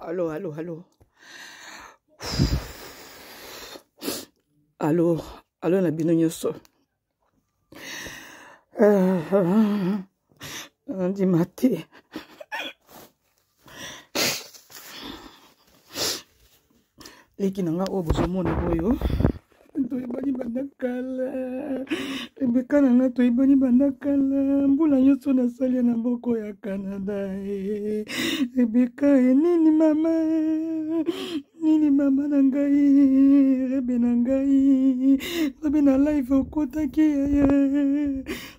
Allô, allô, allô. Allô, allô, na bino nyoso. Nandima te. leki na nga oyo bozomona oyo toyebani banda kala rebeka na nga toyebani banda kala mbula nyonso nasali ya na mboko ya canada eh. rebeka eh, nini mama eh. nini mama na ngai rebe na ngai rebe na live okotaki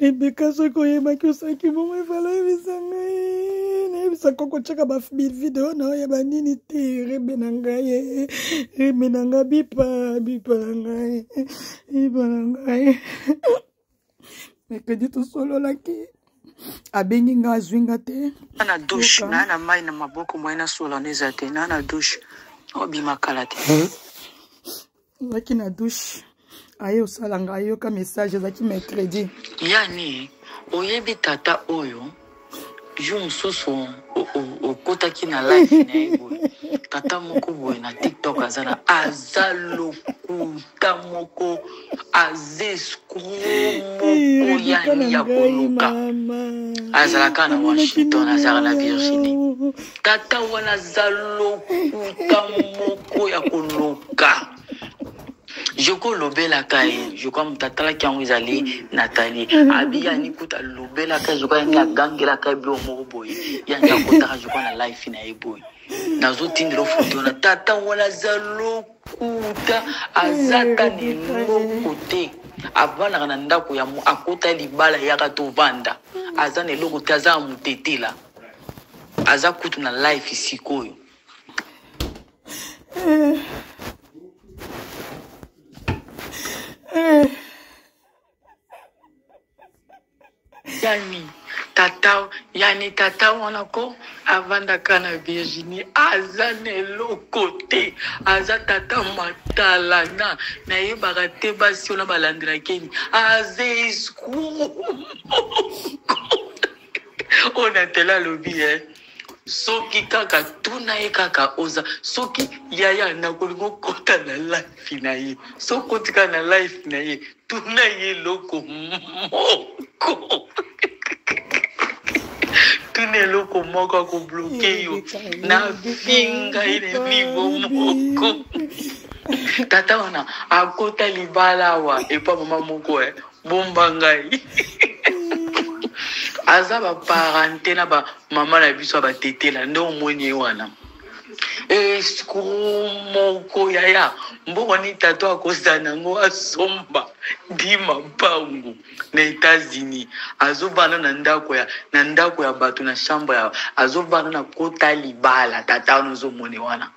rebeka soki oyebaki osalaki bongo efala oyebisa ngai nayebisa koko otyaka bavideo na oyo ya banini te rebe na ngai rebe na ngai bipa bipa na ngai bipa na ngai mercredi tosololaki abengi nga azwi nga te na dushe na na mai na maboko moye nasolana eza te na na dushe obima kala te ozalaki na douche aye osala nga ayoka message ezalaki mercredi yani oyebi tata oyo jour mosusu okotaki na life na ye boye tata moko boye na tiktok aza na aza lokuta moko aza escro moko yani ya koluka azalaka na washington azalaka na virginie Tata wana aza lokuta moko ya koloka. Je ko lobela ka ye, je crois mutu atalaki yango ezali Nathalie. Abi ya ni kuta lobela ka je crois ni agangela ka bio moko boye. Ya ni akotaka je crois na life na ye boye. Nazo tindelo foto na tata wana aza lokuta, aza ta ni loko te. Avandaka na ndako ya akota libala yaka tovanda. Aza na eloko te, aza ya mutetela. aza kutu na life sikoyo eh. Eh. yani tata yani tata wana ko avandaka na virginie aza na eloko te aza tata matalana nayebaka te basi wana balandelakeni aza eskuo oyo na tele alobi ye eh. soki kaka tuna ye kaka oza soki yaya nakolingi okota na life na ye soki otika na life na ye tuna ye eloko moko tuna eloko moko akobloke yo nafinga ye na nivo moko tata wana akota libala awa epa mama moko e eh. bomba ngai aza baparente na bamama na biso ya batetela nde omoni ye wana eskuru moko yaya mboka nini tato akozala nango asomba dima mpango na etats-unis azobana na ndako ya na ndako ya bato na chambre ya azobana na kota libala tata wana ozomone wana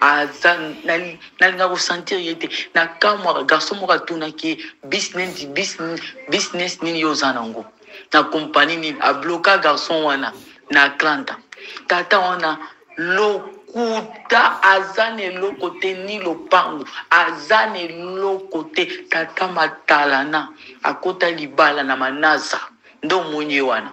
aza nalinga kosentir ye te nakamwaka garso moko atunaki ye business business business nini yo oza nango na kompani nini abloka garçon wana na atlanta tata wana lokuta aza na eloko te ni lopango aza na eloko te tata matalana akota libala na manasa nde omoni ye wana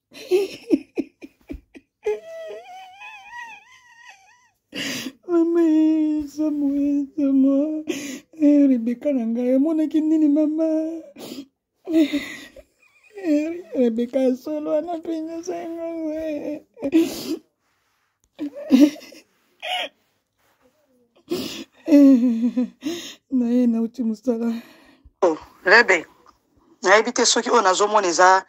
mama ezamu ezama rebeka na ngai amonaki nini mama rebeka ya solo wana mpenza sango naye nauti mosala oh, lebe nayebi te soki oyo nazomona eza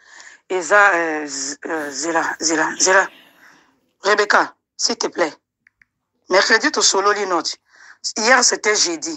eza euh, euh, zela zela zela rebecca s'il te plaît mercredi tosololi note hier c'était jeudi